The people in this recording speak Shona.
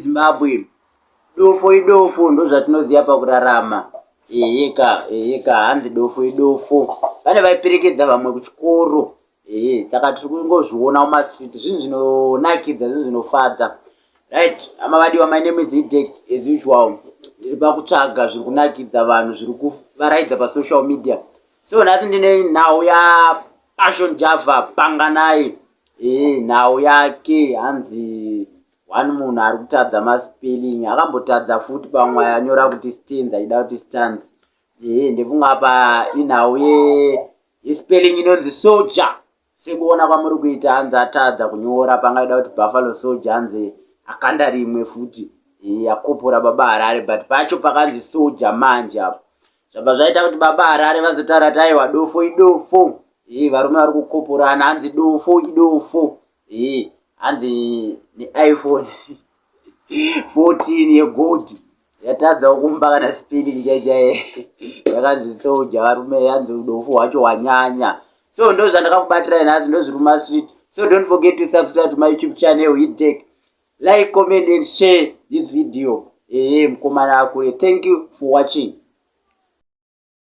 Zimbabwe dofo idofo ndozvatinoziva pakurarama eheka eheka hanzi dofo idofo pane vaiperekedza vamwe kuchikoro ehe saka tiri kungozviona mumastreet zvinhu zvinonakidza zvinhu zvinofadza right ama vadiwa my name is hidek as usual ndiri pakutsvaga zviri kunakidza vanhu zviri kuvaraidza pasocial media so nhasi ndine nhau yapassion java panganai ehe nhau yake hanzi one munhu ari kutadza maspelling akambotadza futi pamwe anyora kuti stans aida kuti stans ehe ndefunga apa inhau ye His spelling inonzi soldier. Sekuona kwamuri kuita hanzi atadza kunyora pangaida kuti Buffalo soldier hanzi akanda rimwe futi. Yakopora baba Harare but pacho pakanzi soldier manje apo. Zvabva zvaita kuti baba Harare vazotara taiwa dofo idofo. Hii varume vari kukoporana hanzi dofo idofo. Hii, hanzi neiphone 14 yegold yatadzawo kumba kana spilling chaichaye yakanzi soja varume yanzi udofu hwacho hwanyanya so ndo zvandakakubatirai nhasi ndozviruma street so don't forget to subscribe to my youtube channel hitec like comment and share this video ehe mkomana akule thank you for watching